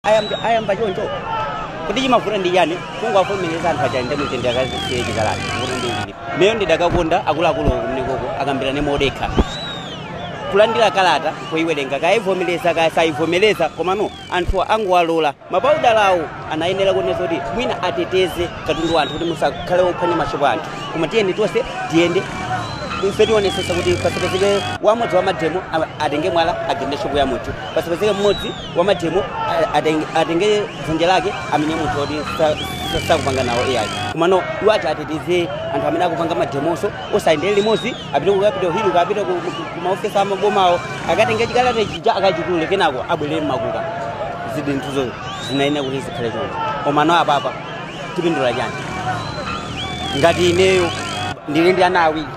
ayamba ayamba choncho kuti chimavuta ndi chani kungowavomereza anthu aja ndi mtendere akasiye chikalata kuti ndi ichi ineyo ndidakakonda akuluakulu kumeneko akambirane modekha kulandira kalata kuyiwerenga kaya ayivomereza kaya sayivomereza komano anthu angowalola mapaudala iwo anayenera kunena kuti mwina ateteze katundu wa anthu kuti musakhale ophwanya mashopo a anthu koma tiyeni tonse tiyende ife tionesese kuti pasapezeke mmodzi wa mademo a- atenge mwala agende shopo ya munthu pasapezeke mmodzi wamademo atenge dzanja lake amenye munthu oti sakupanga nawo ayi komano iwo ati ateteze anthu amene akupanga mademowo nkusayendera limodzi apite ku capital hill kapena kumaofesi amabomawo akatenge chikalata chija akachitule kenako abwerere mmakuka zinthuzo zinayenera kuti zikhale choncho komano apapa tipindula chani ngati ineyo ndili ndi ana awiri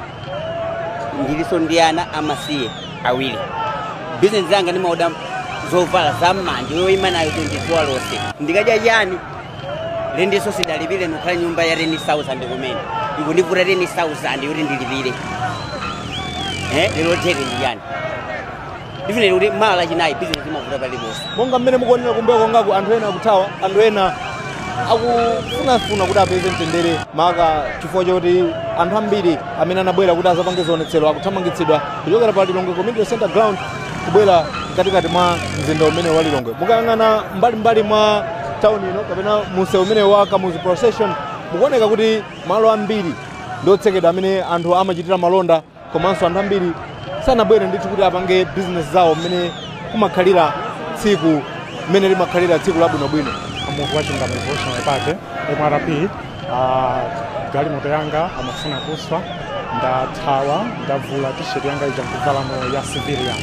ndilinso ndi ana amasiye awiri bizinesi yanga ndimaoda zovala za mmanja yayima nayo tsiku lonse ndikadya chani rendiso sidalipire ndikukhala nyumba ya 10000 yomwe ikundivuta 10000 yoti ndilipire Eh, lero tere ndi lachitatu ndifune kuti mawa lachinayi bizinesi imavuta paliponse monga mmene mukuonera kumbuyo kwangaku anthu ena akuthawa anthu ena akufunafuna kuti apeze mtendere maka chifukwa choti anthu ambiri amene anabwera kuti azapange zionetsero akuthamangitsidwa kuchokera pa lilongwe community center ground kubwera mkatikati mwa mzinda umene wa lilongwe mukayang'ana mbalimbali mwa tauni ino kapena msewu umene wa kamuzu procession mukuona kuti malo ambiri ndi otsekedwa amene anthu amachitira malonda komanso anthu ambiri sanabwere ndithu kuti apange bizinesi zawo mmene kumakhalira tsiku mmene limakhalira tsiku labwinobwino muvi wa chilungamo revolutionary party mrp Ah, galimoto yanga amafuna kuswa ndathawa ndavula t-shirt yanga ija nkuvalano ya civilian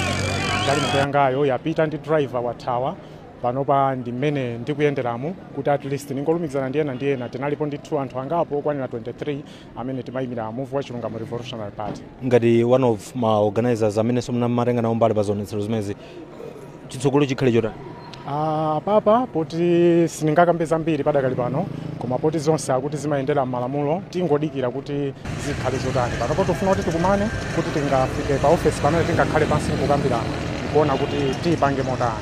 galimoto yangayo yapita ndi driver wathawa panopa ndi mmene ndikuyenderamu kuti at least ndingolumikizana ndi ena ndi ena tinalipo ndithu anthu angapo okwanira 23 amene timayimira muvi wa chilungamo revolutionary party ngati one of ma organizers amenenso timatenga nawo mbali pa zionetsero zimezi chitsogolo chikhale chotani Ah, apapa poti sindingakambe zambiri padakali pano koma poti zonse akuti zimayendera m'malamulo tingodikira kuti zikhale zotani panopo tifuna kuti tikumane kuti tingafike pa ofesi pamene tingakhale pansi nkukambirana nkuona kuti tiyipange motani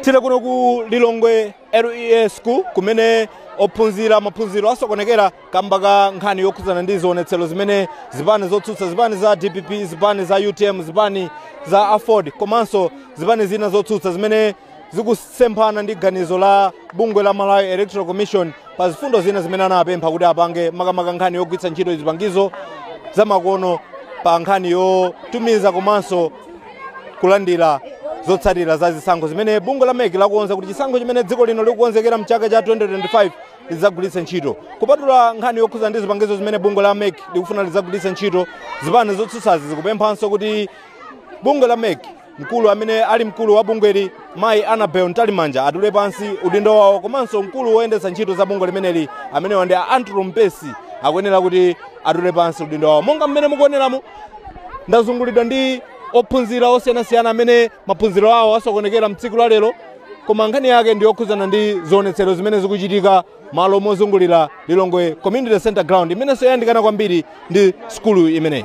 tili kuno ku lilongwe lea school kumene ophunzira maphunziro asokonekera kamba ka nkhani yokhudzana ndi zionetsero zimene zipani zotsutsa zipani za dpp zipani za utm zipani za aford komanso zipani zina zotsutsa zimene zikusemphana ndi ganizo la bungwe la Malawi Electoral Commission pa mfundo zina zimene anapempha kuti apange makamaka nkhani yogwiritsa ntchito zipangizo zamakono pa nkhani yotumiza komanso kulandira zotsatira za zisankho zimene bungwe la mec lakonza kuti chisankho chimene dziko lino likukonzekera mchaka cha 2025 lidzagwiritse ntchito kupatula nkhani yokhuza ndi zipangizo zimene bungwe la mec likufuna lidzagwiritse ntchito zipani zotsutsazi zikupemphanso kuti bungwe la mec mkulu amene ali mkulu wa bungweli mayi annabel mtalimanja atule pansi udindo wawo komanso mkulu woyendetsa ntchito za bungwe limeneli amenewa ndi a andrew mpesi akuyenera kuti atule pansi udindo wawo monga mmene mukuoneramu ndazungulidwa ndi ophunzira osiyanasiyana amene maphunziro awo asokonekera mtsiku la lero koma nkhani yake ndi yokhudzana ndi zionetsero zimene zikuchitika malo mozungulira lilongwe community center ground imenenso yayandikana kwambiri ndi sukulu imeneyi